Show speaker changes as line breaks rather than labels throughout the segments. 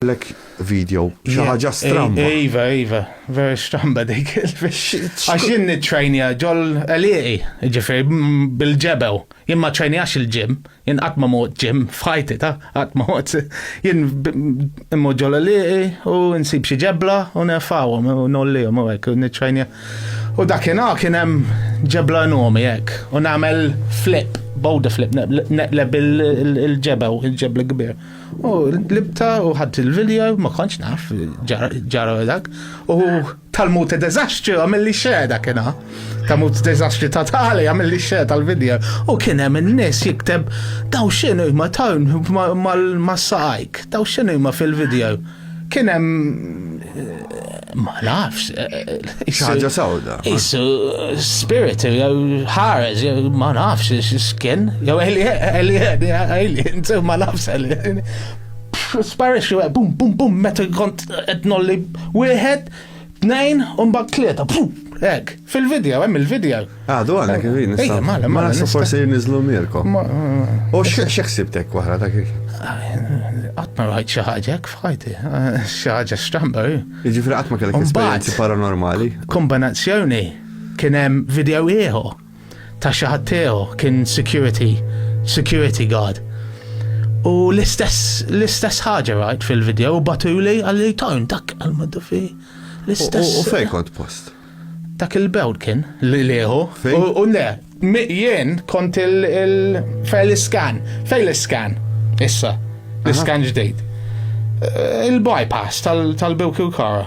Għamillek video, xi ħaġa stramba. Eh, iva, iva,
vera stramba dik. Għax jien nitrajnija ġol eliqi, ġifir, bil-ġebew. Jien ma trajnijax il-ġim, jien qatt ma mod ġim, fħajti ta' qatt ma mod. Jien immu ġol eliqi u nsib xi ġebla u nefawhom u nollihom u hekk nitrajnija. U dakinhar kien hemm ġebla nomi hekk u nagħmel flip, bowda flip, neqleb il-ġebew, il-ġebla kbir. U libta u ħadd il-video, ma kontx naf, ġara dak. U tal-mut dezastri għamilli xeda kena. Tal-mut dezastri ta' tali għamilli xeda tal-video. U kienem il-nis jikteb daw xinu ma tawn ma s-saqajk, daw xinu ma fil-video. Kien hemm ma nafx. Xaġa
sawda. Isu
spirit jew ħares jew ma nafx x'kien jew alien alien ma nafx alien. Sparixxu bum bum bum meta kont qed nolli wieħed Tnejn, u mbagħad tlieta, hekk, fil-video, hemm il-video. Għadu għana kif jien.
Ejja, mala, mala. Mala, forsi nizlu mirkom. U xeħsibtek wara dak il
Għatma rajt xaħġa, kfajti, xaħġa stramba. Ġifri għatma kellek
esperienzi paranormali. Kombinazzjoni,
kienem video ieħor. ta' xi ħadd tiegħu, kien security, security guard. U l-istess, l-istess ħaġa rajt fil-video, u batuli għalli tajn dak għal-maddu fi. L-istess. U
fej kont
post?
Dak il-bewd
kien li liħu. U le, jien kont il-fej l-iskan, fej l-iskan, issa, l-iskan ġdejt. Eh, il-bypass tal-bewk il-kara.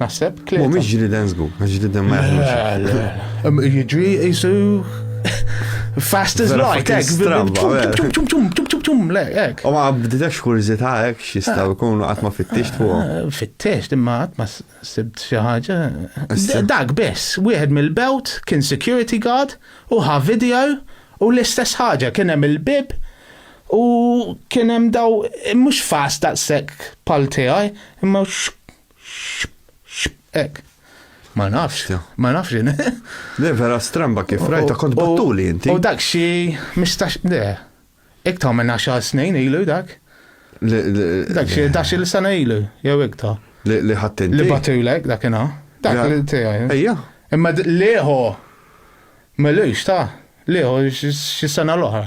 Naħseb klieta. Mhumiex ġriden żgur, għax
ġriden ma jaħdmux. Jiġri jisu
fast as light, ek, tum tum tum tum tum
le, ek. U ma bdidax kurzita ek xistaw kunu għatma fit-tix fuq. Eh, fit-tix, imma għatma
sibt xaħġa. Dak bess, wieħed mill-belt kien security guard u ħa video u l-istess ħaġa kien hemm il-bib u kien hemm daw mhux fast daqshekk pal tiegħi, imma Ek. Ma nafx, ma nafx jene. Le, vera
stramba kif rajta kont battuli inti. U dak xi
mistax, le, iktar minn 10 snin ilu dak. Dak xi dax il sena ilu, jew iktar. Li ħattin. Li
batulek dak ina.
Dak li tijaj. Ejja. Imma
liħu,
melux ta' liħu xi sena l-oħra.